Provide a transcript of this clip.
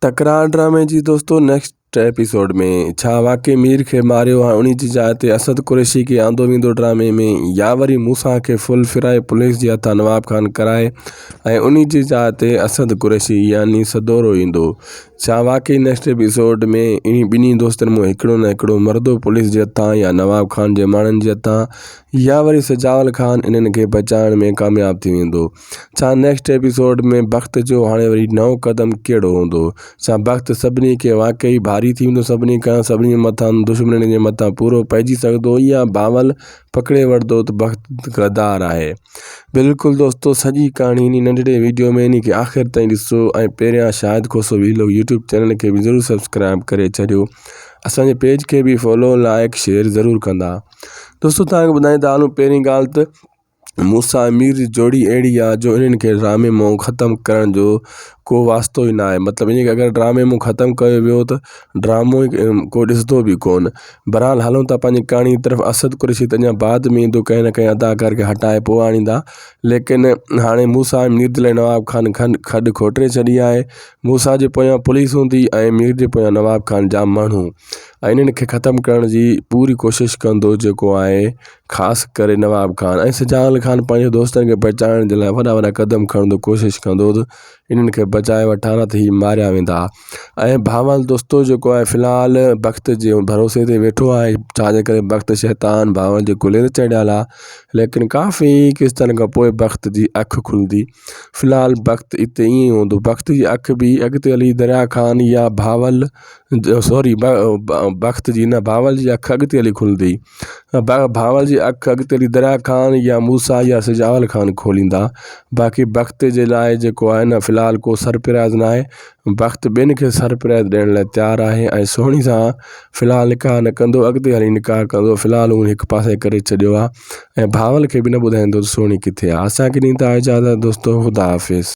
تڪرار ڊرامي جي دوستو نيڪسٽ ايپيسوڊ ۾ ڇا واقعي مير کي ماريو ها انهي جي جاء تي اسد قريشي کي آندو ويندو ڊرامي ۾ يا وري موسيٰ کي ڦل ڦرائي پوليس جي هٿان نواب خان ڪرائي ۽ انهي جي جاء تي اسد قريشي يعني سدورو ايندو ڇا واقعي نيڪسٽ ايپيسوڊ ۾ انهي ٻنهي دوستن مان هڪڙو نه هڪڙو مردو پوليس جي هٿان يا نواب خان جي ماڻهن جي هٿان يا وري سجاول خان انهن کي بچائڻ ۾ ڪامياب ٿي ويندو ڇا نيڪسٽ ايپيسوڊ ۾ بخت جو هاڻي وري نئون قدم ڪهڙو هوندو ڇا بخت سڀني کي واقعي ڀاري ٿي ويندو سڀني کان سڀني مٿان دشمنن جي مٿان پورو پئجي سگهندو يا بانول پڪڙي وٺندو ته بخت غدار آهي بلڪل دوستو سڄي ڪهاڻي انهي ننڍڙي ويڊيو ۾ انهي کي آخر تائين ڏسو ۽ پهريان شاهد کوسو ويلو يوٽيوب چينل کي به ضرور سبسڪرائيب ڪري ڇڏيو اسان جي پيج کي به فالو لائڪ شيئر ضرور ڪندا دوستو تهان کي ٻڌائين ٿا هلون پهرين ڳالهه ته مون سان مير جي جوڙي اهڙي آهي جو انهن کي ڊرامي مئو ختم ڪرڻ جو ڪو واسطو ئي ناهي مطلب ائين اگري ڊرامي مئو ختم ڪيو ويو ته ڊرامو ئي ڪو ڏسندو به ڪون بهرحال هلون ٿا پنهنجي ڪهاڻي جي طرف اسد قريشي ته اڃان بعد ۾ ايندو ڪنهن نه ڪنهن اداڪار کي هٽائي پوء آڻيندا ليڪن هاڻي مون سان مير دل ۽ نواب خان کن کڏ کوٽي ڇڏي آهي مون سان جي پويان پوليس هوندي ۽ مير جي پويان نواب خان جا ماڻهو ۽ انهن کي ختم ڪرڻ جي پوري ڪوشش ڪندو جيڪو آهي خاص ڪري نواب خان ۽ شجاعل خان پنهنجي دوستن کي بچائڻ جي لاء وڏا وڏا قدم کڻندو ڪوشش ڪندو هو ته انهن کي بچائي وٺان نه ته هي ماريا ويندا ۽ بهمل دوستو جيڪو آهي في الحال بخت جي ڀروسي تي ويٺو آهي ڇاجي ڪري بخت شيطان بهمل جي ڪلهي تي چڙهيل آهي ليڪن ڪافي قسطن کان پوء بخت جي اک کلندي في الحال بخت اتي ائين ئي هوندو بخت جي اک به اڳتي هلي دريا خان يا بهاول سوري بخت جي نه بهاول جي اک اڳتي هلي کلندي ڀانور جي اک اڳتي هلي دريا خان يا موسيٰ يا سجاول خان کوليندا باقي بخت جي لاء جيڪو آهي نه في الحال ڪو سرپرائز نه آهي بخت ٻين کي سرپرائز ڏيڻ لاء تيار آهي ۽ سهڻي سان في الحال نڪاح نه ڪندو اڳتي هلي نڪاح ڪندو في الحال هو هڪ پاسي ڪري ڇڏيو آهي ۽ ڀانول کي بھ نھ ٻڌائيندو تھ سهڻي ڪٿي آهي اسان کي ڏين تھا اجازت دوستو خدا حافظ